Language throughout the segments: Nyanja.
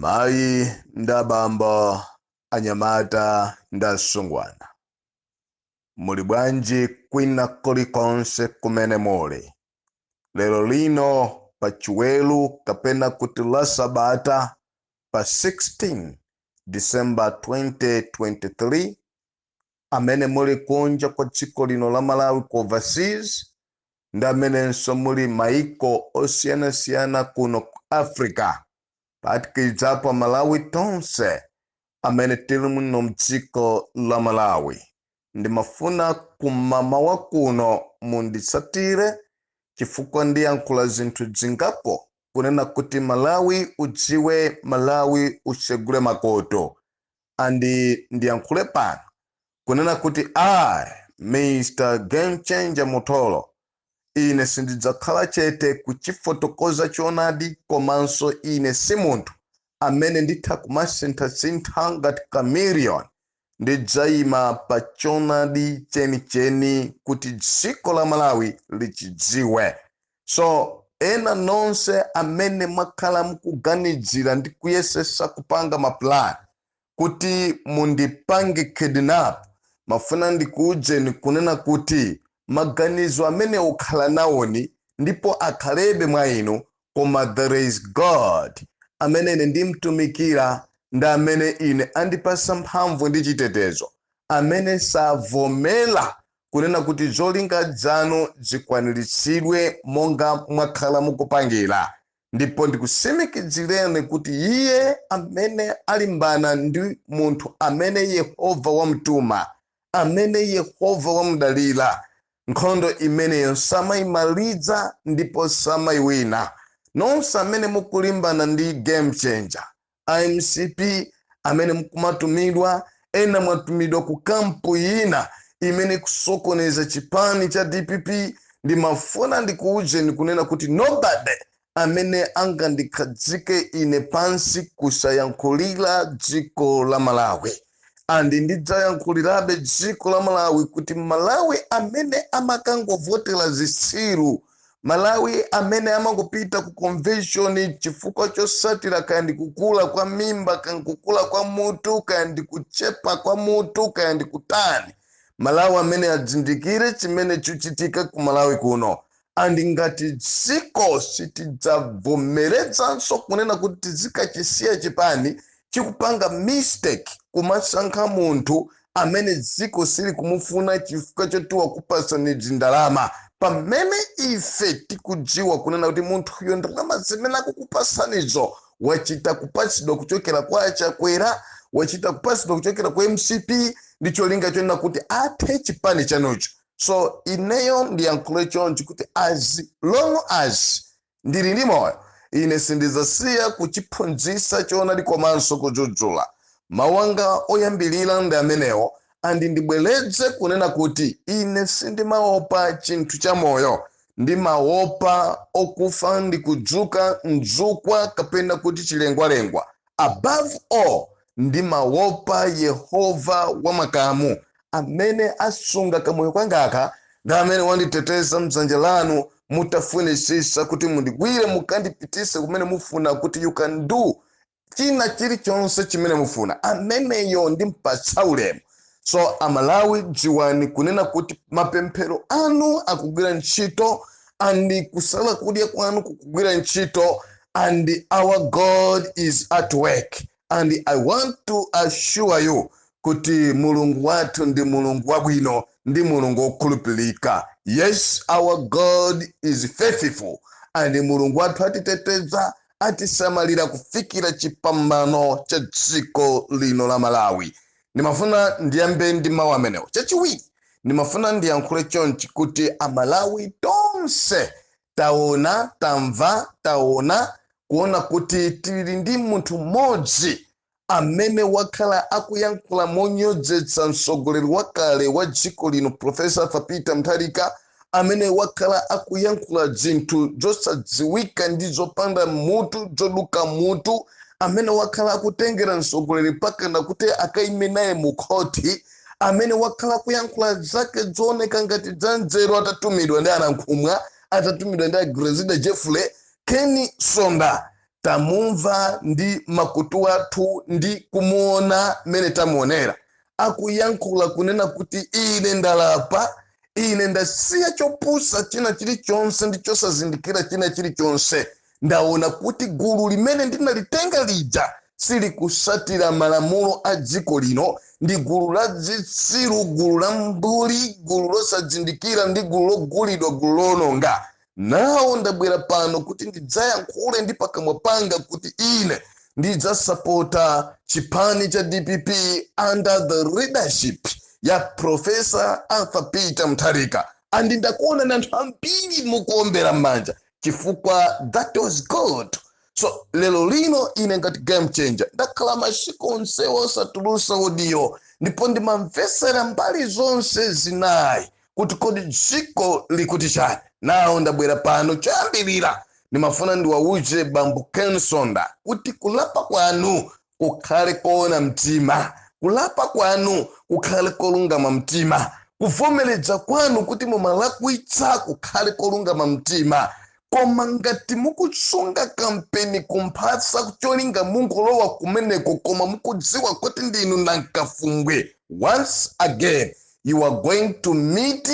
mayi ndi abambo anyamata ndi asungwana muli bwanji kwina kulikonse kumene muli lero lino pa chiweru kapena kuti la sabata pa 16 december 2023 amene muli kunja kwa dziko lino la malawi ku overseas ndi amenenso muli maiko osiyanasiyana kuno ku africa phatikizapo malawi tonse amene tili muno mdziko la malawi ndimafuna kummawa kuno munditsatire chifukwa ndiyankhula zinthu dzingapo kunena kuti malawi udziwe malawi utsegule makutu and ndiyankhule pano kunena kuti I Mr game changer Mutholo ine sindidzakhala chete kuchifotokoza choonadi komanso ine si munthu amene nditha kumasinthasintha ngati chameleon ndidzayima pa choonadi chenicheni kuti dziko la Malawi lichidziwe so ena nonse amene mwakhala mukuganidzira ndi kuyesesa kupanga maplan kuti mundipange kidnap ndimafuna ndikuuzeni kunena kuti maganizo amenewo khalanawoni ndipo akhalebe mwa inu koma there is god amene ine ndimtumikira ndi amene ine andipasa mphamvu ndi chitetezo amene savomera kunena kuti zolinga zanu zikwaniritsidwe monga mwakhala mukupangira. Ndipo ndikutsimikizireni kuti iye amene alimbana ndi munthu amene Yehova wamtuma, amene Yehova wamudalira, nkhondo imeneyo samaimaliza ndipo samaiwina. Nonse amene mukulimbana ndi game changer, a mcp amene mukumatumidwa ena mwatumidwa ku kampu inayi imene kusokoneza chipani cha dpp ndimafuna ndikuwuzeni kunena kuti nobody amene angandikhadzike ine pansi kusayankhulira dziko la malawi and ndidzayankhulirabe dziko la malawi kuti amalawi amene amakangovotera zitsiru amalawi amene amangopita ku convention chifukwa chotsatira kaya ndi kukula kwa mimba kaya kukula kwa mutu kaya ndi kuchepa kwa mutu kaya ndi kutani amalawi amenewa azindikire chimene chikuchitika ku malawi kuno and ngati dziko sitidzavomerezanso kunena kuti tizikachisiya chipani chikupanga mistake kumasankha munthu amene dziko silikumufuna chifukwa choti wakupatsani ndalama pamene ife tikudziwa kunena kuti munthuyo ndalama zimene akukupatsanizo wachita kupatsidwa kuchokera kwa achakwera wachita kupatsidwa kuchokera kwa mcp ndi cholinga chonena kuti athe chipani chanucho so ineyo ndiyankhule chonchi kuti as long as ndili ndi moyo ine sindidzasiya kuchiphunzitsa choonadi komanso kudzudzula mawu anga oyambirira ndi amenewo andi ndibwereze kunena kuti ine sindimaopa chinthu cha moyo ndimaopa okufa ndi kudzuka mzukwa kapena kuti chilengwalengwa Above all, ndimawopa Yehova wa makamu, amene asunga kamoyo kangaka, ndi amene wanditeteza m'dzanja lanu, mutafunitsitsa kuti mundigwire mukandipititse kumene mufuna, kuti you can do china chilichonse chimene mufuna. Ameneyo ndimpatsa ulemu. so amalawi dziwani kunena kuti mapemphero anu akugwira ntchito andi kusala kudya kwanu kukugwira ntchito and our god is at work and i want to assure you kuti mulungu wathu ndi mulungu wabwino ndi mulungu wokhulupirika yes our god is faithful and mulungu wathu atiteteza atisamalira kufikira chipambano cha dziko lino la malawi ndimafuna ndiyambe ndi mawu amenewo chachiwiri ndimafuna ndiyankhule chonchi kuti amalawi tonse taona tamva taona kuona kuti tili ndi munthu mmodzi amene wakhala akuyankhula monyozetsa mtsogoleri wakale wa dziko lino profesa arthur peter mutharika amene wakhala akuyankhula dzinthu dzosadziwika ndi dzopanda mutu dzoduka mutu amene wakhala akutengera mtsogoleri pakana kuti akaime naye mu khoti amene wakhala akuyankhula zake dzooneka ngati dzanzeru atatumidwa ndi anankhumwa atatumidwa ndi a grezelder jeffrey ken msonda tamumva ndi makutu athu ndi kumuona mmene tamuonera akuyankhula kunena kuti ine ndalapa ine ndasiya chopusa china chilichonse ndi chosazindikira china chilichonse ndaona kuti gulu limene ndinalitenga lija silikutsatira malamulo a dziko lino ndi gulu la zitsiru gulu la mbuli gulu losazindikira ndi gulu logulidwa gulu loononga nawo ndabwera pano kuti ndidzayankhule ndi pakamwa panga kuti ine ndidzasapota chipani cha dpp under the leadership ya profesa arthur peter mutharika and ndakuona na anthu ambiri mukuombera m'manja chifukwa that was good so lero lino ine ngati game changer ndakhala masiku onse osatulusa audio ndipo ndimamvesera mbali zonse zinayi kuti kodi dziko likuti chani nawo ndabwera pano choyambirira ndimafuna ndiwauze bambo ken msonda kuti kulapa kwanu kukhale koona mtima kulapa kwanu kukhale kolungama mtima kuvomereza kwanu kuti mumalakwitsa kukhale kolungama mtima Koma ngati mukusunga kampeni kumphasa cholinga mungolowa kumeneko koma mukudziwa kuti ndinu nankafumbwe, once again you are going to meet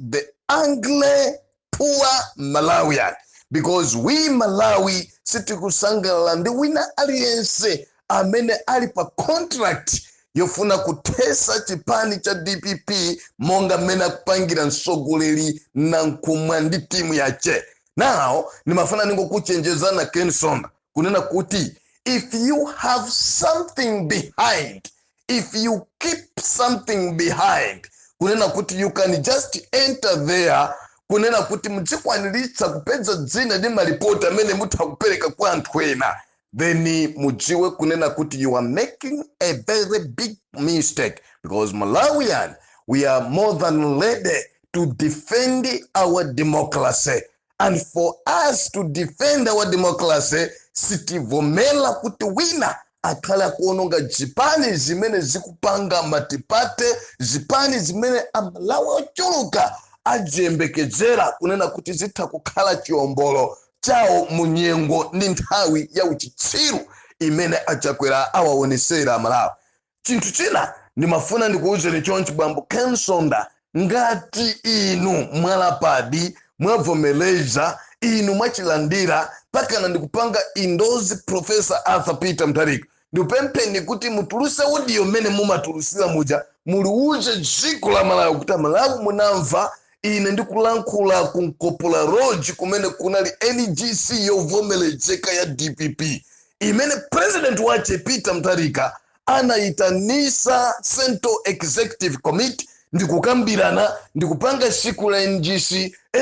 the angry poor Malawian because we Malawi sitikusangalala ndi wina aliyense amene ali pa contract yofuna kuthesa chipani cha dpp monga mmene akupangira mtsogoleri nankumwa ndi timu yache nawo ndimafuna ningokuchenjezana ken msonda kunena kuti if you have something behind if you keep something behind kunena kuti you can just enter there kunena kuti mudzikwaniritsa kupeza dzina ndi maripoti amene mutha kupereka kwa anthu ena then mudziwe kunena kuti you are making a very big mistake because malawian we are more than ready to defend our democracy and for us to defend our democracy sitivomera kuti wina akhale akuononga zipani zimene zikupanga matipate zipani zimene amalawi ochuluka akuziyembekezera kunena kuti zitha kukhala chiombolo chawo mu nyengo ndi nthawi ya uchitsiru imene achakwera awaonesera amalawi chinthu china ndimafuna ndikuwuzeni chonchi bambo ken msonda ngati inu mwalapadi mwavomereza inu mwachilandira pakana ndikupanga indozi profesa arthur peter mutharika ndipempheni kuti mutuluse audio mmene mumatulusira muja muliuze dziko la malawi kuti amalawi munamva ine ndikulankhula ku nkopola lodge kumene kunali ngc yovomerezeka ya dpp imene president wache peter mutharika anayitanisa central executive committee ndikukambirana ndikupanga siku la ngc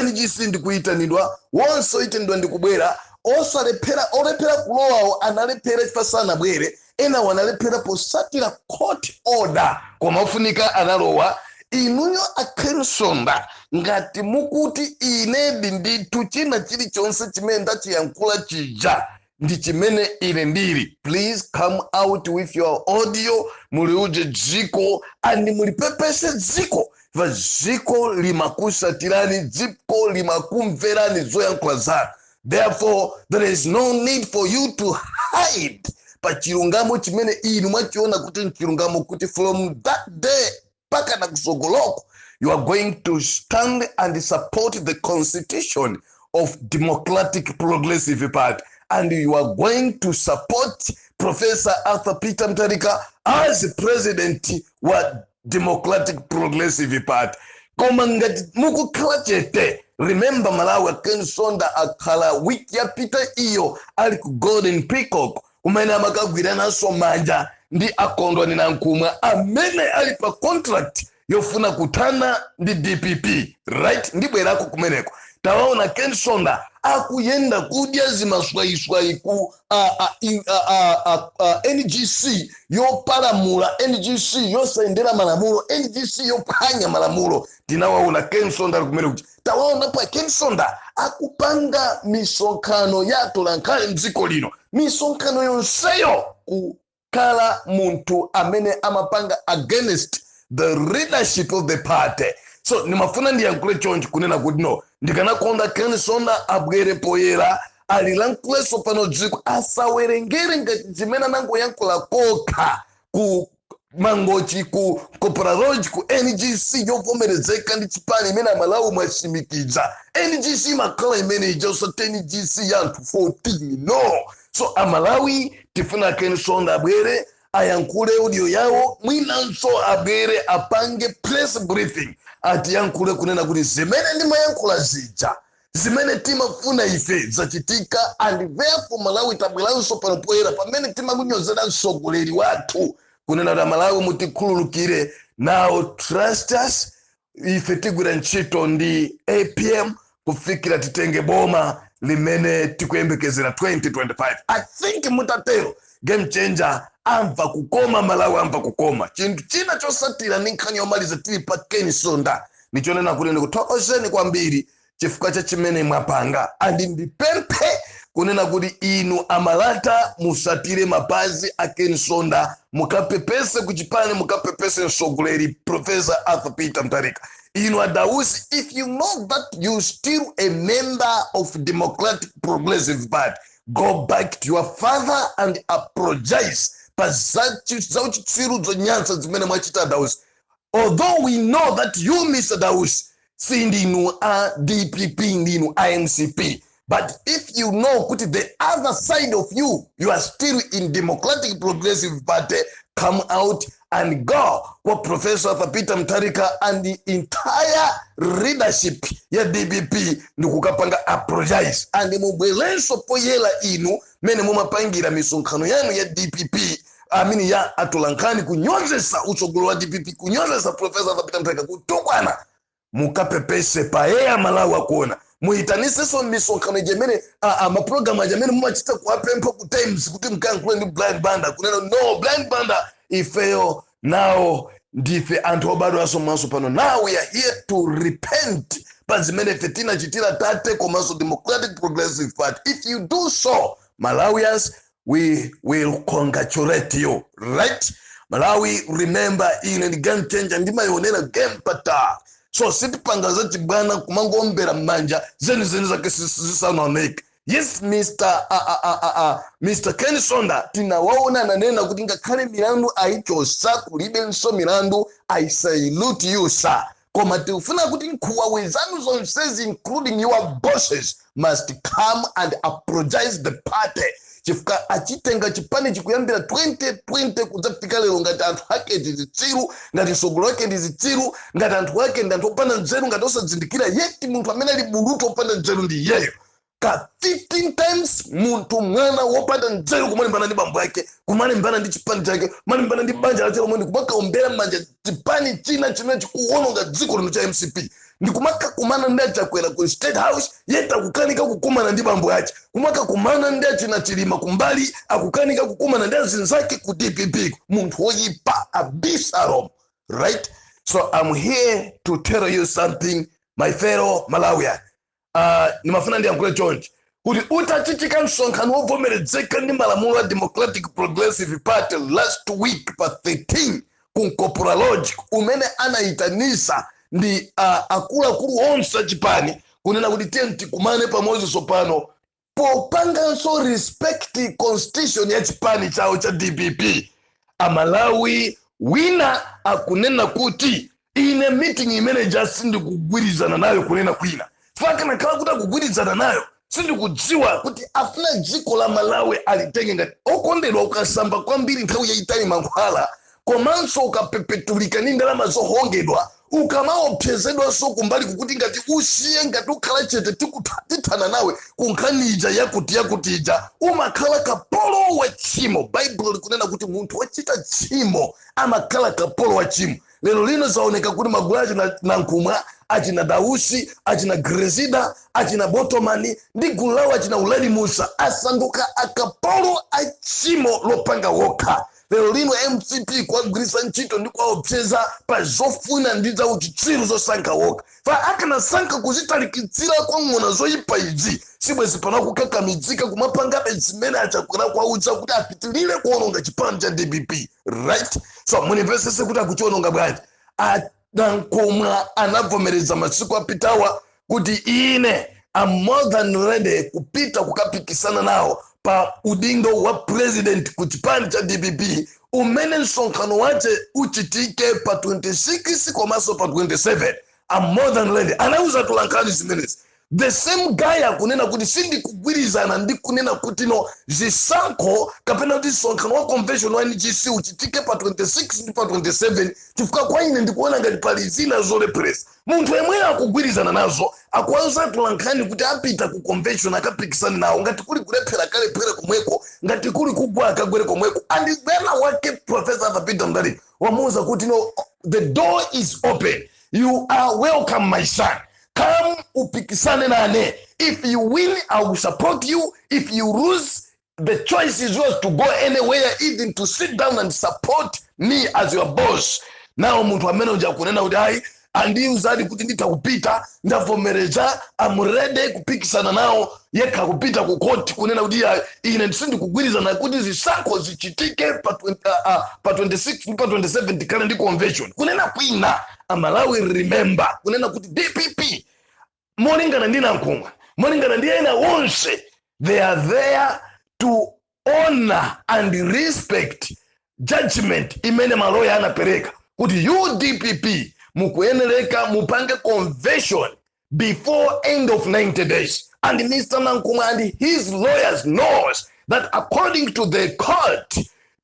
ngc ndikuyitanidwa wonse oyitanidwa ndikubwera osalephera olephera kulowawo analephera chifukwa sanabwere enawo analephera posatira court order koma ofunika analowa inuyo a Ken Msonda ngati mukuti inedi ndi ndithu china chilichonse chimene ndachiyankhula chija ndi chimene ine ndili please come out with your audio muliuze dziko and mulipepese dziko va dziko limakusatirani dziko limakumverani zoyankhula zanu therefore there is no need for you to hide pa chilungamo chimene inu mwachiona kuti nchilungamo kuti from that day mpakana kusogoloko you are going to stand and support the constitution of democratic progressive party and you are going to support professor arthur peter mtarika as president wa democratic progressive party koma ngati mukukhala chete remember malawi akensonda akhala wiki yapita iyo ali ku golden peacock kumene amakagwirananso manja ndi a Kondwani Nankhumwa amene ali pa contract yofuna kuthana ndi dpp right ndibwerako kumeneko tawaona Ken Msonda akuyenda kudya zimaswayiswayi ku ngc yopalamula ngc yosayendera malamulo ngc yophwanya malamulo tinawaona Ken Msonda ali kumeneko kuti tawaonapo a Ken Msonda akupanga misonkhano ya atolankhani mdziko lino misonkhano yonseyo kukhala munthu amene amapanga against the leadership of the party so ndimafuna ndiyankhule chonchi kunena kuti no ndikanakonda Ken Msonda abwere poyera alilankhulenso pano dziko asawerengere ngati zimene anangoyankhula kokha ku mangochi ku copraroj ku ngc yovomerezeka ndi chipani imene amalawi mwatsimikiza ngc imakhala imene ija usati ngc ya anthu 14 no so amalawi tifuna a Ken Msonda abwere ayankhule audio yawo mwinanso abwere apange press briefing atiyankhule kunena kuti zimene ndimayankhula zija zimene timafuna ife zachitika and therefore malawi tabweranso pano poyera pamene timakunyozera mtsogoleri wathu kunena kuti amalawi mutikhululukire now trust us ife tigwira ntchito ndi apm kufikira titenge boma limene tikuyembekezera 2025 i think mutatero game changer amva kukoma malawi amva kukoma chinthu china chotsatira ndi nkhani yomaliza tili pa Ken Msonda ndi chonena kuti ndikuthokozeni kwambiri chifukwa cha chimene mwapanga and ndipemphe kunena kuti inu a Malata musatire mapazi a Ken Msonda mukapepese kuchipani mukapepese msogoleri professor arthur peter Mutharika inu a Dausi if you know that you still a member of democratic progressive party go back to your father and apologize pa zachi- zauchitsiru zonyansa zimene mwachita a Dausi although we know that you Mr Dausi sindinu a dpp ndinu a mcp but if you know kuti the other side of you you are still in democratic progressive party come out and go kwa professor arthur peter mutharika and the entire leadership ya dpp ndikukapanga apologize and mubwerenso poyera inu mmene mumapangira misonkhano yanu ya dpp amene ya atolankhani kunyozesa utsogolo wa dpp kunyozesa profesa arthur peter mutharika kutukwana mukapepese pa air a malawi akuona muitanisenso misonkhano ija imene a- a- mapulogalamu aja amene mumachita kuwapempha ku times kuti mkayankhule ndi brian banda kunena no brian banda ifeyo nawo ndife anthu obadwanso mwatso pano now we are here to repent pa zimene ife tinachitira tate komanso democratic progressive party if you do so malawians we will congratulate you right malawi remember ine ndi game changer ndimayionera game patali so sitipanga zachibwana kumangombera m'manja zenizeni zake zisanaoneke yes mr uh, uh, uh, uh, uh, mr ken msonda tinawaona ananena kuti ngakhale milandu ayichotsa kulibenso milandu i salute you sir koma tikufuna kuti nkholowe zanu zonsezi including your bosses must come and apologize the party chifukwa achitenga chipanichi kuyambira 2020 kudzafika lero ngati anthu ake ndi zitsiru ngati atsogoleri ake ndi zitsiru ngati anthu ake ndi anthu opanda nzeru ngati osazindikira yeti munthu amene ali bulutu wopanda nzeru ndi iyeyo ka 15 times munthu mwana wopanda nzeru kumalimbana ndi bambo yake kumalimbana ndi chipani chake kumalimbana ndi banja lake lomwe ndikumakaombera manja chipani china chimene chikuwononga dziko lino cha mcp ndikumakakumana ndi achakwera ku state house yeti akukanika kukumana ndi bambo yake kumakakumana ndi achina chilima kumbali akukanika kukumana ndi azinzake ku dpp munthu woyipa abisalomu right so i'm here to tell you something my fellow malawian uh, ndimafuna ndiyankhule chonchi kuti utachitika msonkhano wovomeredzeka ndi malamulo a democratic progressive party last week pa 13 ku nkopola lodge umene anayitanisa ndi uh, akuluakulu onse achipani kunena kuti tiyeni tikumane pamodzi tsopano popanganso respect constitution ya chipani chawo cha dpp amalawi wina akunena kuti ine meeting imene ija sindikugwirizana nayo kunena kwina chifukwa akanakhala kuti akugwirizana nayo sindikudziwa kuti afuna dziko la malawi alitenge ngati okondedwa ukasamba kwambiri nthawi yayitali mankhwala komanso ukapepetulika ndi ndalama zohongedwa ukamaopsezedwanso kumbaliku kuti ngati usiye ngati ukhala chete tikutha- tithana nawe ku nkhani ija yakuti yakuti ija umakhala kapolo wa tchimo baibulo likunena kuti munthu wochita tchimo amakhala kapolo wa tchimo lero lino zaoneka kuti magulu achina nankhumwa achina dausi achina grezida achina botomani ndi gulu lawo achina uladi musa asanduka akapolo a tchimo lopanga wokha lero lino mcp kuwagwiritsa ntchito ndi kuwaopseza pa zofuna ndi za uchitsiru zosankha wokha pa akanasankha kuzitalikitsira kwa ng'ona zoyipa izi sibwezi pano akukakamidzika kumapangabe zimene achakwera kwaudza kuti apitilire kuononga chipani cha dpp right so munimvesese kuti akuchiononga bwanji A- nankhumwa anavomereza masiku apitawa kuti ine am more than ready kupita kukapikisana nawo pa udindo wa president ku chipani cha dpp umene msonkhano wace uchitike pa 26 komanso pa 27 am more than ready anauza atolankhani zimenezi the same guy akunena kuti sindikugwirizana ndi kunena kuti no zisankho kapena kuti msonkhano wa convention wa ngc uchitike pa 26 ndi pa 27 chifukwa kwa ine ndikuona ngati pali zina zolepheresa munthu yemweyo akugwirizana nazo akuwauza atolankhani kuti apita ku convention akapikisane nawo ngati kuli kulephera akalephere komweko ngati kuli kugwa akagwere komweko and bwana wake profesa arthur peter mutharika wamuuza kuti no the door is open you are welcome my son come upikisane nane if you win i will support you if you lose the choice is yours to go anywhere even to sit down and support me as your boss now munthu amene uja kunena kuti ayi andiuzadi kuti nditha kupita ndavomereza am ready kupikisana nawo yekha kupita ku court kunena kuti "Ayi, ine sindikugwirizana kuti zisankho zichitike pa 20 ah, ah, pa 26 ndi pa 27 tikhale ndi convention kunena kwina amalawi remember kunena kuti dpp molingana ndi nankhumwa molingana ndi ena onse they are there to honor and respect judgment imene maloya anapereka kuti you dpp mukuyenereka mupange convention before end of 90 days and mr nankhumwa and his lawyers knows that according to the court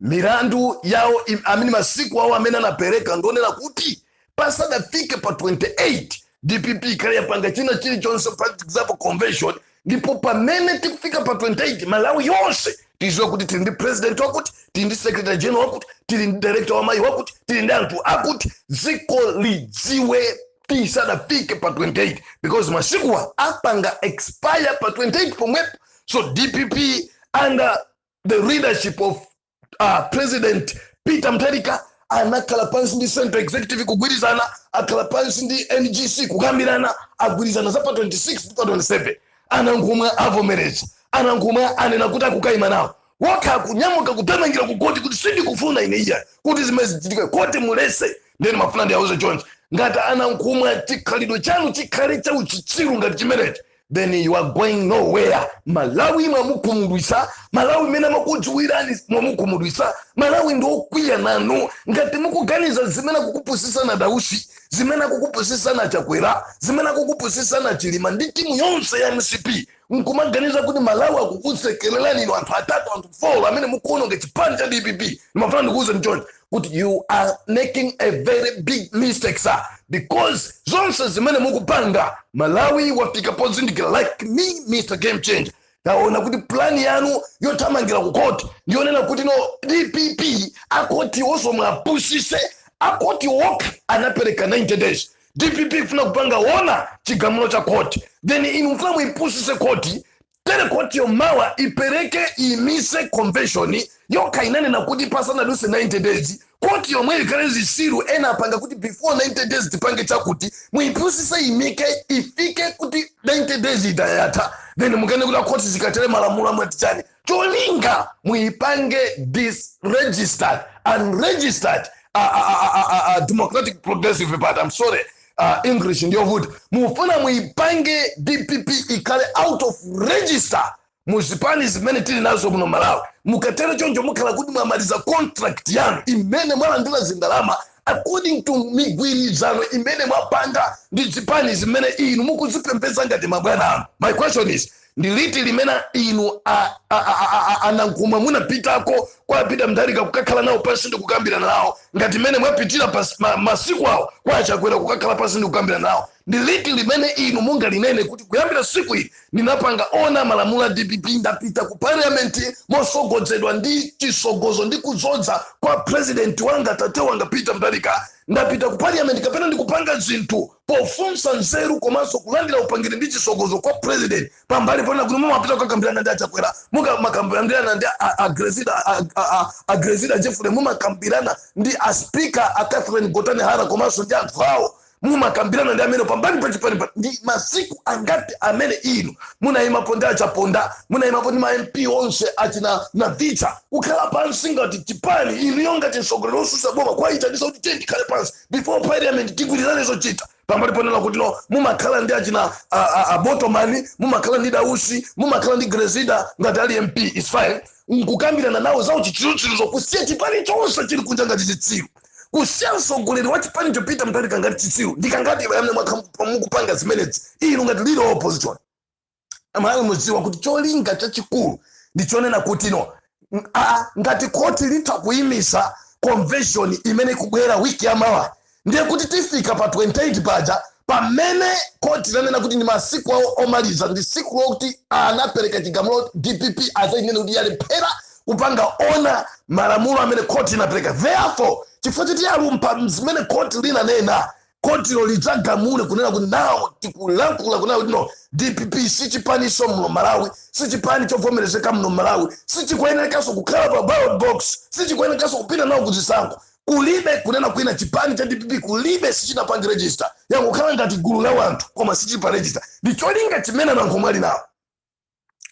milandu yawo im- amene masiku awo amene anapereka ndi onena kuti pasadafike pa 28 dpp ikhale yapanga china chilichonse for example convention ndipo pamene tikufika pa 28 malawi yonse tiziwa kuti tili ndi president wakuti tili ndi secretary general wakuti tili ndi director wa amayi wakuti tili ndi anthu akuti dziko lidziwe tisadafike pa 28 because masikuwa apanga expire pa 28 pomwepo so dpp under the leadership of uh, president peter mutharika anakhala pansi ndi central executive kugwirizana akhala pansi ndi ngc kukambirana agwirizana za pa 26 ndi pa 27 anankhumwa avomereza anankhumwa anena kuti akukayima nawo wokha akunyamuka kuthamangira ku koti kuti sindikufuna ine iya kuti zimenezi zichitike koti mulese nde nimafuna ndiwauze chonchi ngati anankhumwa chikhalidwe chanu chikhale cha uchitsiru ngati chimenechi then you are going nowhere malawi mwamukhumudwisa malawi mmene amakudziwirani mwamukhumudwisa malawi ndi okwiya nanu ngati mukuganiza zimene akukupusisani a dausi zimene akukupusisani a chakwera zimene akukupusisani a chilima ndi timu yonse ya mcp nkumaganiza kuti malawi akukusekererani inu anthu atatu anthu folo amene mukuononga chipani cha dpp ndimafuna ndikuuze choncho kuti you are making a very big mistake sir because zonse zimene mukupanga malawi wafika pozindikira like me mr game change taona kuti plani yanu yothamangira ku court ndiyonena kuti no dpp akotiwoso muwapusise akoti okha anapereka 90 days dpp ifuna kupanga honour chigamulo cha court then inu mufuna muipusise court tere kotiyo mawa ipereke iyimise convention yokha inanena kuti pasanaduse 90 days koti yomwe ikhale zisiru ena apanga kuti before 90 days tipange chakuti muipusise iyimike ifike kuti 90 days ija yatha then mukanene kuti akhoti zikatere malamulo amati chani cholinga muipange disregistered unregistered a, a, a, a, a, a democratic progressive party i'm sorry uh, english ndiyovuta mufuna muyipange dpp ikhale out of register mu zipani zimene tili nazo muno malawi mukatero choncho mukhala kuti mwamaliza contract yanu imene mwalandira zindalama according to migwirizano imene mwapanga ndi zipani zimene inu mukuzipembeza ngati mabwana anu my question is ndi liti limene inu a, a, a, a, a, a nankhumwa munapitako kwa a peter mutharika kukakhala nawo pansi ndi kukambirana nawo ngati mmene mwapitira pas- ma- masiku awo kwa achakwera kukakhala pansi ndi kukambirana nawo ndi liti limene inu mungalinene kuti kuyambira siku ili ndinapanga honour malamulo a dpp ndapita ku parliament mosogodzedwa ndi chisogozo ndi kudzoza kwa president wanga tate wanga peter mutharika ndapita ku parliament kapena ndikupanga zinthu pofunsa nzeru komanso kulandira upangiri ndi chisogozo kwa president pambali ponena kuti mumapita kukakambirana ndi achakwera mumakambirana ndi a- a- a grezelder a- a- a- a grezelder jeffrey mumakambirana ndi a speaker a catherine gotani hara komanso ndi anthu awo mumakambirana ndi amene pambali pa chipani pa- ndi masiku angati amene inu munayimapo ndi achaponda munayimapo ndi ma mp onse achina navicha kukhala pansi ngati chipani inuyo ngati mtsogoleri wosusa boma kwayitanisa kuti tiyeni tikhale pansi before parliament tigwirizane zochita pambali ponena kuti no mumakhala ndi achina a- a- abotomani mumakhala ndi dausi mumakhala ndi grezida ngati ali mp is fine nkukambirana nawo za uchitsirutsiruzo kusiya chipani chonse chili kunja ngati chitsiru kusiya mtsogoleri wa chipani chopita mutharika ngati chitsiru ndi kangati mwayamba mwakha- mukupanga zimenezi inu ngati leader of opposition amalawi mudziwa kuti cholinga chachikulu ndi chonena kuti no ng- a- ngati khoti litha kuyimisa convention imene ikubwera wiki ya mawa ndiye kuti tifika pa 28 paja pamene khoti lanena kuti ndi masiku awo omaliza ndi siku lokuti anapereka chigamulo dpp azainene kuti yalephera kupanga honour malamulo amene khoti inapereka therefore chifukwa choti yalumpha zimene khoti linanena kotilo lidzagamule kunena kuti nawo tikulankhula kunena kuti no dpp sichipaniso muno malawi sichipani chovomerezeka muno malawi sichikuyenerekanso kukhala pa ballot box sichikuyenerekanso kupita nawo kuzisankho kulibe kunena kwina chipani cha dpp kulibe sichili pa ndi register yangokhala ngati gulu la wanthu koma sichili pa register ndi cholinga chimene nankhumwa ali nawo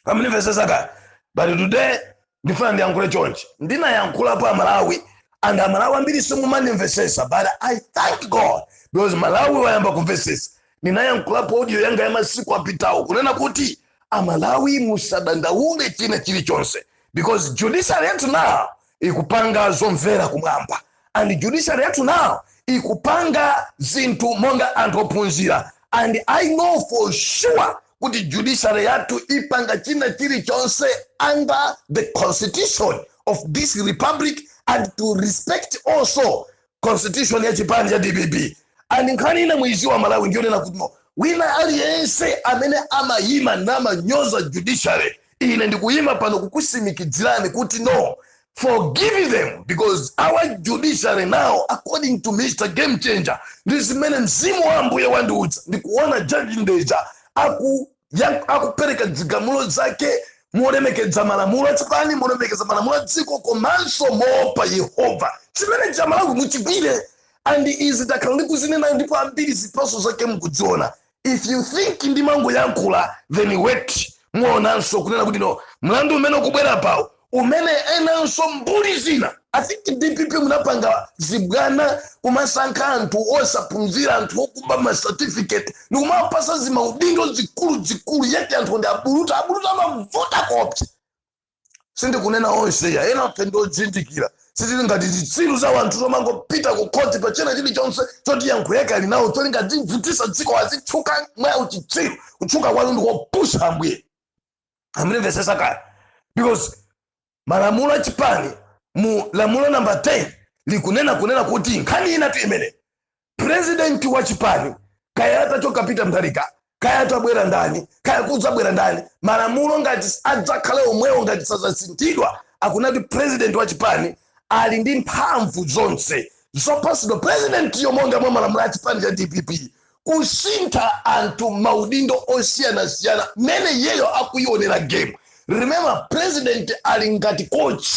amanimvesesa kaya but today ndifuna ndiyankhule chonchi ndinayankhulapo amalawi and amalawi ambiri simumanimvesesa but i thank god because malawi wayamba kumvesesa ndinayankhulapo audio yanga ya masiku apitawo kunena kuti amalawi musadandaule china chilichonse because judiciary yathu now ikupanga zomvera kumwamba and judiciary yathu now ikupanga zinthu monga anthu ophunzira and i know for sure kuti judiciary yathu ipanga china chilichonse under the constitution of this republic and to respect also constitution ya chipani cha dpp and nkhani ina muiziwa malawi ndiyonena kuti no wina aliyense amene amayima namanyoza judiciary ine ndikuyima pano kukusimikidzirani kuti no forgive them because our judiciary now according to mr game changer ndi zimene mzimu wa ambuye wandiudza ndikuona ma judge ndeja aku ya- akupereka dzigamulo zake molemekedza malamulo achipani molemekedza malamulo a dziko komanso moopa yehova chimene cha amalawi muchigwire and izi takhala ndikuzinena ndipo ambiri zipaso zake mukudziona if you think ndimangoyankhula then wait muonanso kunena kuti no mlandu umene ukubwera apawo umene enanso mbuli zina I think dpp munapanga zibwana kumasankha anthu osaphunzira anthu okuba ma certificate ndikumawapasa zimaudindo zikulu zikulu yet anthu ndi abuluta abuluta amavuta kopsa sindikunena onse ya ena athu ndiodzindikira sitili ngati zitsiru za wanthu zomangopita ku khoti pa china chilichonse choti yankho yake ali nawo cholinga azivutisa dziko azitchuka mwa uchitsiru kutchuka kwanu ndikopusa ambuye mundimvesesa kaya because malamulo a chipani mu lamulo namba 10 likunena kunena kuti nkhani inatu imene president wa chipani kaya atachoka peter mutharika kaya atabwera ndani kaya kudzabwera ndani malamulo ngati adzakhale omwewo ngati sazasinthidwa akunena kuti president wa chipani ali ndi mphamvu zonse zopatsidwa presidentiyo monga mwa malamulo a chipani cha dpp kusintha anthu maudindo osiyanasiyana mmene iyeyo akuionera game remember president ali ngati coach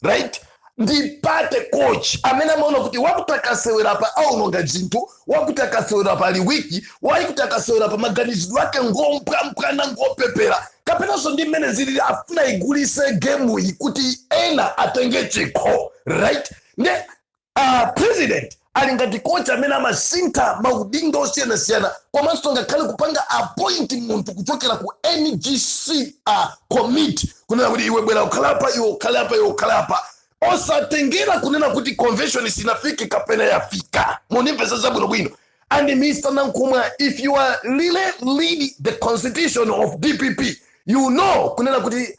right ndi pa coach amene amaona kuti wakuti akasewera pa aononga zinthu wakuti akasewera pa liwiki wakuti akasewera pa maganizidwe ake ngompwampwana ngopepera kapenanso ndi mmene zili afuna igulise gemuyi kuti ena atenge chikho right nde president ali ngati coach amene amasintha maudindo osiyanasiyana komanso ngakhale kupanga appoint munthu kuchokera ku NGC uh, committee kunena kuti iwe bwera ukhale apa iwe ukhale apa iwe ukhale apa osatengera kunena kuti convention sinafike kapena yafika munimvesa zabwinobwino and mr nankhumwa if you are really read the constitution of dpp you know kunena kuti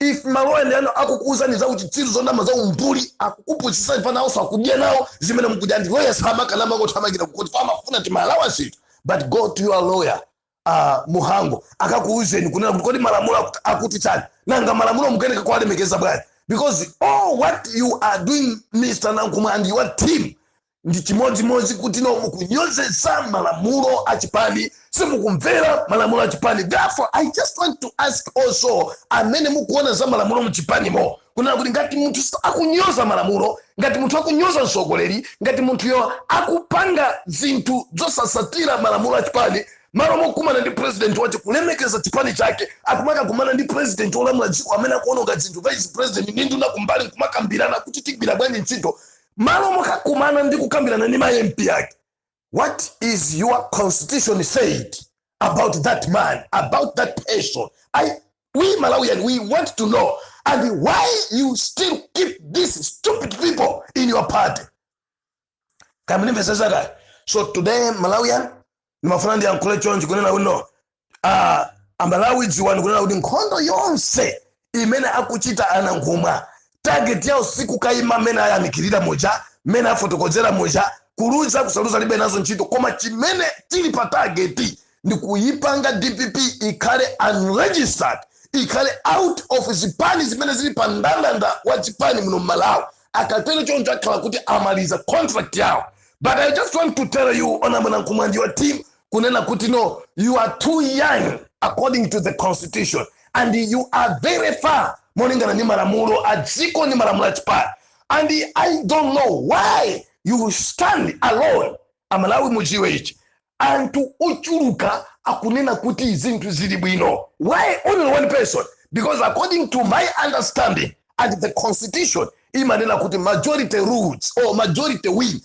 if maloya anu akukuuzani za uchitsiru zonama za umbuli akukupusisani pa nawonso akudya nawo zimene mukudya ndi lawyer samakana mangothamangira kukoti pamafuna timalawansi but go to your lawyer uh, muhango akakuuzeni kunena kuti kodi malamulo akut- akuti chani nanga malamulo mukuyeneka kuwalemekeza bwanji because all what you are doing mr nankhumwa and your team ndi chimodzimodzi kuti no mukunyozesa malamulo a chipani simukumvera malamulo a chipani therefore i just want to ask also amene mukuona za malamulo mu chipanimo kunena kuti ngati munthu sa- akunyoza malamulo ngati munthu akunyoza mtsogoleri ngati munthuyo akupanga zinthu zosasatira malamulo a chipani malo mokumana ndi president wache kulemekeza chipani chake akumakakumana ndi president olamula dziko amene akuononga zinthu vice president ndi nduna kumbali nkumakambirana kuti tigwira bwanji ntchito malo mokakumana ndi kukambirana ndi ma mp ake what is your constitution said about that man about that person I, we malawian we want to know and why you still keep these stupid people in your party kamene mvesesaka so today malawian ndimafuna ndiyankhule chonchi kunena kuti no ah, amalawi dziwani kunena kuti nkhondo yonse imene akuchita a nankhumwa target yawo sikukayima mmene ayamikirira muja mmene afotokozera muja kuluza kusaluza alibe nazo ntchito koma chimene chili pa target ndi kuyipanga dpp ikhale unregistered ikhale out of zipani zimene zili pa ndandanda wa zipani muno mmalawi akatero choncho akhala kuti amaliza contract yawo but i just want to tell you honourable nankhumwa ndi your team kunena kuti no you are too young according to the constitution and you are very far molingana ndi malamulo a dziko ndi malamulo a chipani and i don't know why you stand alone amalawi mudziwe ichi anthu ochuluka akunena kuti zinthu zili bwino why only one person because according to my understanding and the constitution imanena kuti majority rules or majority win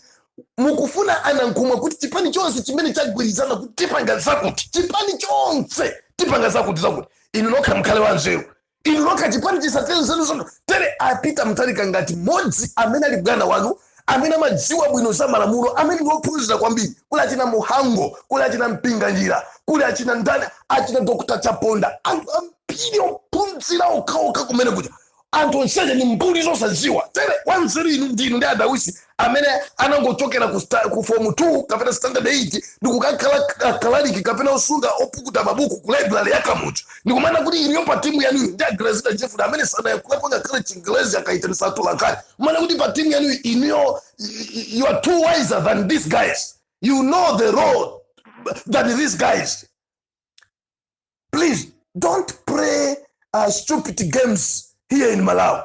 mukufuna a Nankhumwa kuti chipani chonse chimene chagwirizana kuti tipanga zakuti chipani chonse tipanga zakuti zakuti inu nokha mukhale wanzeru inu nokha chipani chisatire nzeru zanu tere a Peter Mutharika ngati mmodzi amene ali bwana wanu amene amadziwa bwino za malamulo amene ndi ophunzira kwambiri kuli achina muhango kuli achina mpinganjira kuli achina ndani achina dr chaponda anthu ambiri ophunzira okhaokha kumene kuja anthu onseje ni mbuli zosadziwa tere wanzeru inu ndinu ndi a Dausi amene anangochokera ku, sta- ku form 2 kapena standard 8 ndikukakhala akalaliki kapena osunga opukuta mabuku ku library ya Kamuzu ndikumana kuti ineyo pa timu yanuyi ndi a Grezelder Jeffrey amene sanayankhulepo ngakhale chingelezi akaitanisa atolankhani kumana kuti pa timu yanuyi inuyo you are too wiser than these guys you know the law than these guys please don't play stupid games here in malawi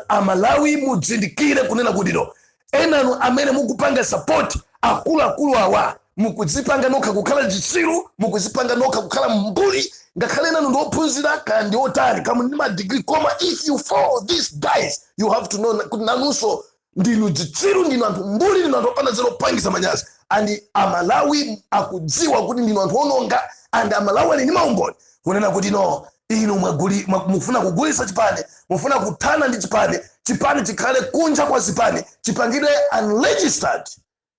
amalawi mudzindikire kunena kuti no enanu amene mukupanga support akuluakulu awa mukudzipanga nokha kukhala chitsiru mukudzipanga nokha kukhala mbuli ngakhale enanu ndi ophunzira kaya ndi otani kaya muli ndi madigiri koma if you follow these guys you have to know kuti nanunso ndinu dzitsiru ndinu anthu mbuli ndinu anthu opanda nzeru opangisa manyazi and amalawi akudziwa kuti ndinu anthu ononga and amalawi ali ndi maumboni kunena kuti no inu mwaguli- mwa- mufuna kugulisa chipani mufuna kuthana ndi chipani chipani chikhale kunja kwa zipani chipangidwe unregistered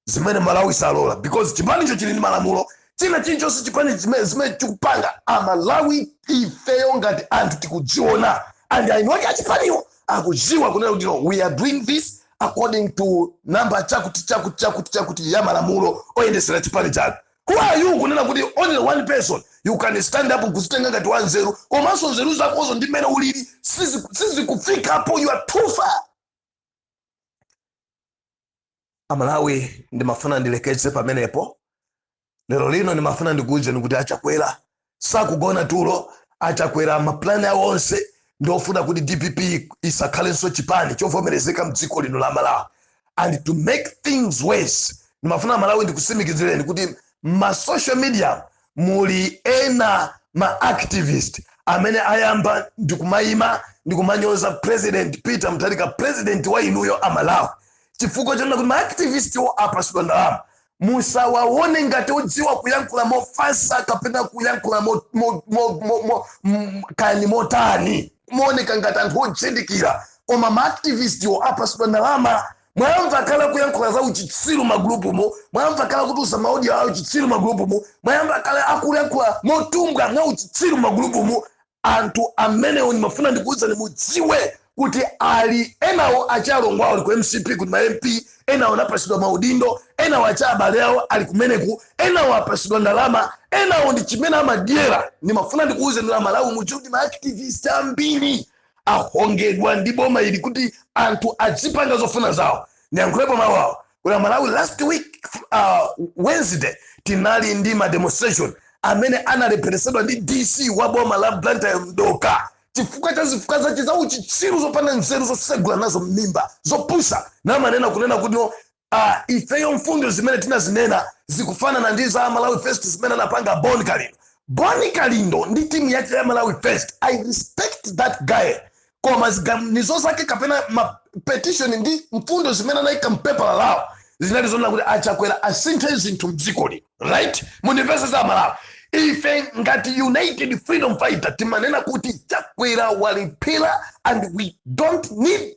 zimene amalawi salola because chipanicho chili ndi malamulo china chilichonse chipani zimene zimene chikupanga amalawi ifeyo ngati anthu tikudziona and aeni ake achipaniwo akudziwa kunena kuti no we are doing this according to number chakuti chakuti chakuti chakuti ya malamulo oyendesera chipani chawo who are you kunena kuti only one person you can stand up kuzitenga ngati wanzeru komanso nzeru zakozo ndi mmene ulili sizi- sizikufikapo you are too far amalawi ndimafuna ndilekeze pamenepo lero lino ndimafuna ndikuwuzeni kuti achakwera sakugona tulo achakwera mapulani awo onse ndiofuna kuti dpp isakhalenso chipani chovomerezeka mdziko lino la malawi and to make things worse ndimafuna amalawi ndikusimikizireni kuti ma social media muli ena ma activist amene ayamba ndikumayima ndikumanyoza president peter mutharika president wa inuyo amalawi chifukwa chonena kuti ma activist wo apasidwa ndalama musawaone ngati odziwa kuyankhula mofatsa kapena kuyankhula mo- mo- mo- mo- mo- m- kaya ndi motani kumaoneka ngati anthu odzindikira koma ma activist wo apasidwa ndalama mwayamva kale akuyankhula za uchitsiru magulupumu mwayamva kale akutulutsa maaudio auchitsiru magulupumu mwayamva kale akuyankhula motumbwa mwauchitsiru magulupumu anthu amenewo ndimafuna ndikuwuzani mudziwe kuti ali enawo achalongo awo ali ku mcp kuti ma mcp enawo anapatsidwa maudindo enawo acha abale awo ali kumeneko enawo apatsidwa ndalama enawo ndi chimene amadyera ndimafuna ndikuwuzani amalawi mudziwe kuti ma activist ambiri ahongedwa ndi boma ili kuti anthu adzipanga zofuna zawo ndiyankhulepo mawu awo kuda amalawi last week uh, wednesday tinali ndi ma demonstration amene analepheretsedwa ndi dc wa boma la blantyre mdoka chifukwa cha zifukwa zake za uchitsiru zopanda nzeru zosegula nazo mmimba zopusa namanena kunena kuti no, a ifeyo mfundo zimene tinazinena zikufanana ndi za malawi first zimene anapanga bon kalindo bon kalindo ndi timu yake ya malawi first i respect that guy koma ziganizo zake kapena ma petition ndi mfundo zimene anayika mpepala lawo zinali zonena kuti achakwera asinthe zinthu mdziko lino right mundimvetsetse amalawi ife ngati united freedom fighter timanena kuti chakwera walephera and we don't need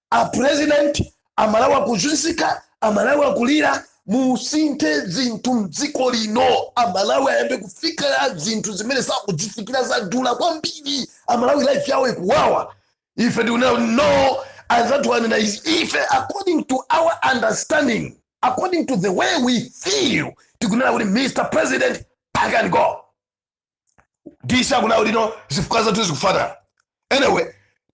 a president amalawi akuzunzika amalawi akulira musinthe zinthu mdziko lino amalawi ayambe kufikira zinthu zimene sakuzifikira zadula kwambiri amalawi life yawo ikuwawa ife tikuna no anzathu anena izi ife according to our understanding according to the way we feel tikunena kuti mr president pack and go dc akunena uli no zifukwa zathu zikufanana anyway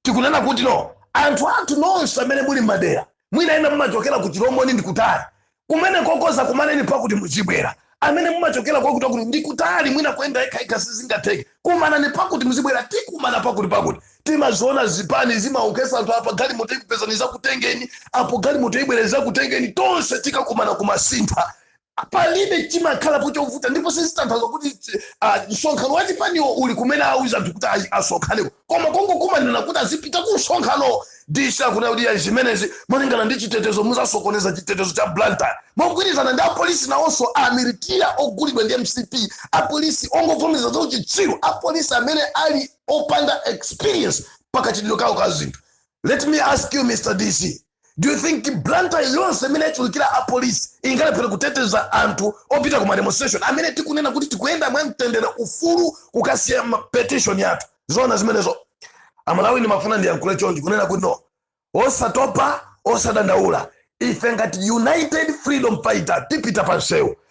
tikunena kuti no anthu athu nonse amene muli madera mwina ena mumachokera ku chilomoni ndi kutali kumene kokonza kumanani pakuti muzibwera amene mumachokera kwakuti akuti ndi kutali mwina kuyenda yekhayekha sizingatheke kumanani pakuti muzibwera tikumana pakuti pakuti timaziona zipani zimauza anthu apa galimoto ikupezani izakutengeni apo galimoto ibwere izakutengeni tonse tikakumana ku masintha a Palibe chimakhalapo chovuta ndipo sizitanthauza kuti ah, msonkhano wa chipaniwo uli kumene auza anthu kuti ayi asonkhaneko koma kongokumanirana kuti azipita ku msonkhano DC akunena kuti ayi zimenezi molingana ndi chitetezo muzasokoneza chitetezo cha Blantyre mogwirizana ndi apolisi nawonso amilitira ogulidwa ndi mcp apolisi ongovomereza za uchitsiru apolisi amene ali opanda experience pakachitidwe kawo ka zinthu let me ask you mr dc do you think blantyre yonse imene yachulukira apolisi ingalephere kuteteza anthu opita ku mademonstration amene tikunena kuti tikuyenda mwa mtendere ufulu kukasiya petition yathu zona zimenezo amalawi ndimafuna ndiyankhule chonchi kunena kuti no osatopa osadandaula ife ngati united freedom fighter tipita pa msewu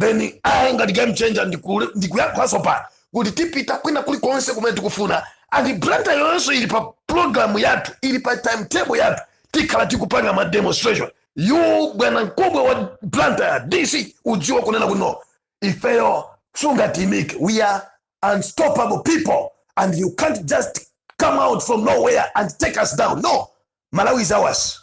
then ayi ngati game changer ndiku- ndikuyankhulanso pa kuti tipita kwina kulikonse kumene tikufuna and Blantyre yonse ili pa program yathu ili pa timetable yathu tikhala tikupanga ma demonstration you bwana mkubwa wa Blantyre DC udziwa kunena kuti no ifeyo sungatimike we are unstoppable people and you can't just come out from nowhere and take us down no malawi is ours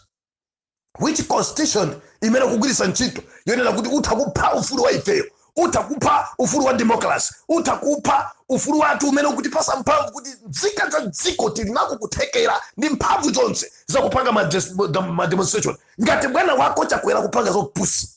which constitution imene ukugwiritsa ntchito yonena kuti utha kupha ufulu wa ifeyo utha kupha ufulu wa democracy utha kupha ufulu wathu umene ukutipasa mphamvu kuti nzika za dziko tili nako kuthekera ndi mphamvu zonse zakupanga ma des- ma demonstration ngati bwana wako Chakwera akupanga zopusa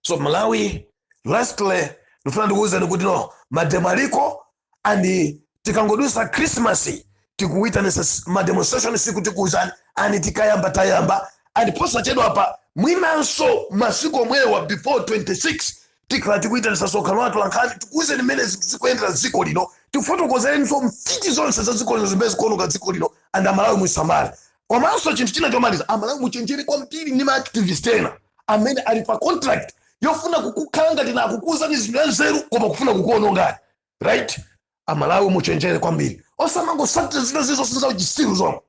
so malawi lastly ndifuna ndikuwuzeni kuti no mademo aliko and tikangodusa christmas tikuyitanisa s- mademonstration siku tikuwuzani and tikayamba tayamba and posachedwa apa mwinanso masiku omwewa before 26 tikhala tikuyitanisa msonkhano wa atolankhani tikuwuzeni mmene zinthu zikuyendera dziko lino tifotokozerenso mfiti zonse za dziko lino zimene zikuoneka dziko lino and amalawi musamale komanso chinthu china chomaliza amalawi muchenjere kwambiri ndi maactivist ena amene ali pa contract yofuna kukukhala ngati na akukuuzani zinthu za nzeru koma kufuna kukuonongani right amalawi muchenjere kwambiri osamangosatira zina zizonse za uchisiru zomwe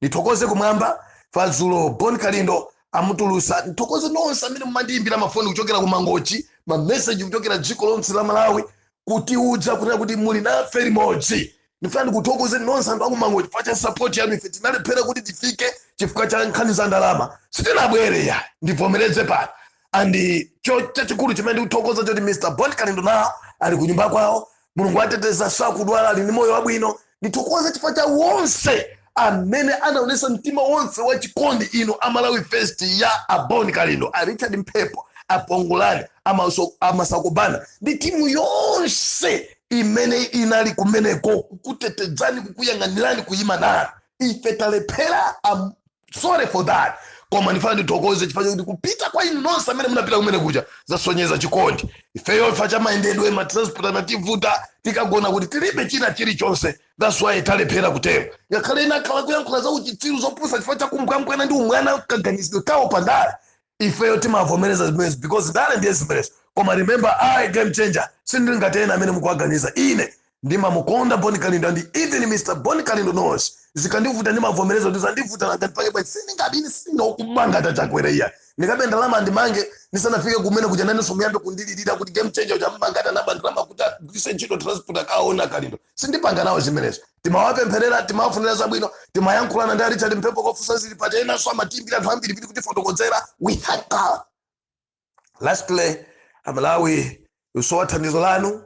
ndithokoze kumwamba fadzulo bon kalindo amutulusa ndithokoze nonse amene mumandiyimbira mafoni kuchokera ku mangochi mameseji kuchokera dziko lonse la malawi kutiuza kunena kuti muli nafe limodzi ndifuna ndikuthokoze nonse anthu aku Mangochi chifukwa cha sapoti yanu ife tinalephera kuti tifike chifukwa cha nkhani za ndalama sitinabwere ya ndivomereze pano and cho chachikulu chimene ndikuthokoza choti mr bon kalindo nawo ali ku nyumba kwawo mulungu ateteza sakudwala ali ndi moyo wabwino ndithokoze chifukwa cha onse amene anaonesa mtima wonse wa chikondi inu a Malawi First ya a Bon Kalindo a richard mphepo a pongolani a Maso- a masakobana ndi timu yonse imene inali kumeneko kukutetedzani kukuyang'anirani kuyima nanu ife talephera I'm sorry for that koma ndifuna ndithokoze chifukwa chakuti kupita kwa inu nonse amene munapita kumene kuja zasonyeza chikondi ifeyo chifukwa cha mayendedwe matransport anativuta tikagona kuti tilibe china chilichonse that's why talephera kutero ngakhale ena akhala kuyankhula za uchitsiru zopusa chifukwa cha kumbwambwana ndi umwana kaganizidwe kawo pa ndale ifeyo timavomereza zimenezi because ndale ndiye zimenezi koma remember i game changer sindili ngati ena amene mukuwaganiza ine ndimamukonda Bon kalindo and even mr Bon kalindo knows zikandivuta ndimavomereza kuti zandivuta nanga ndipake pa sindingadini sindinokubanga tachakwera iya ndikabe ndalama ndimange ndisanafike kumene kuja inenso muyambe kundilirira kuti game changer uja amamanga ati anaba ndalama kuti agwiritse ntchito transport akaone kalindo sindipanga nawo zimenezo timawapempherera timawafunira zabwino timayankhulana ndi richard mphepo kufunsa zili pati enanso amatiimbira anthu ambiri kutifotokozera we thank god lastly amalawi tikusowa thandizo lanu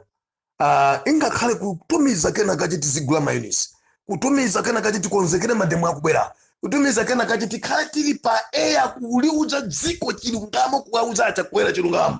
Kaya ingakhale kutumiza kena kache tizigula mayonisi kutumiza kena kache tikonzekere mademo akubwera kutumiza kena kache tikhale tili pa air kuliuza dziko chilungamo kuwauza achakwera chilungamo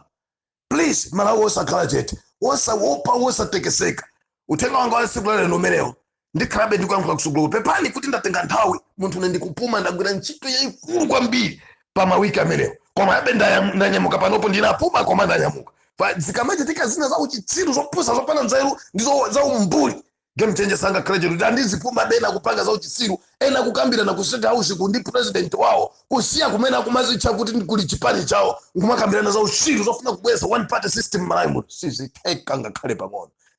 please amalawi osakhala chete osawopa osatekeseka uthenga wanga wa tsiku lalero umenewo ndikhalabe ndikuyankhula kusogolo pepani kuti ndatenga nthawi munthune ndikupuma ndagwira ntchito yayikulu kwambiri pa mawiki amenewa komabe ndayam- ndanyamuka panopo ndinapuma koma ndanyamuka Pa- zikamachitika zina za uchitsiru zopusa zopanda nzeru ndi zo- za umbuli game changer sangakhale chete kuti ah ndizipumabe ena akupanga za uchitsiru ena akukambirana ku state house ku ndi president wawo kusiya kumene akumazitcha kuti ndi kuli chipani chawo nkumakambirana za uchitsiru zofuna kubweza one party system malawi muno sizitheka ngakhale pang'ono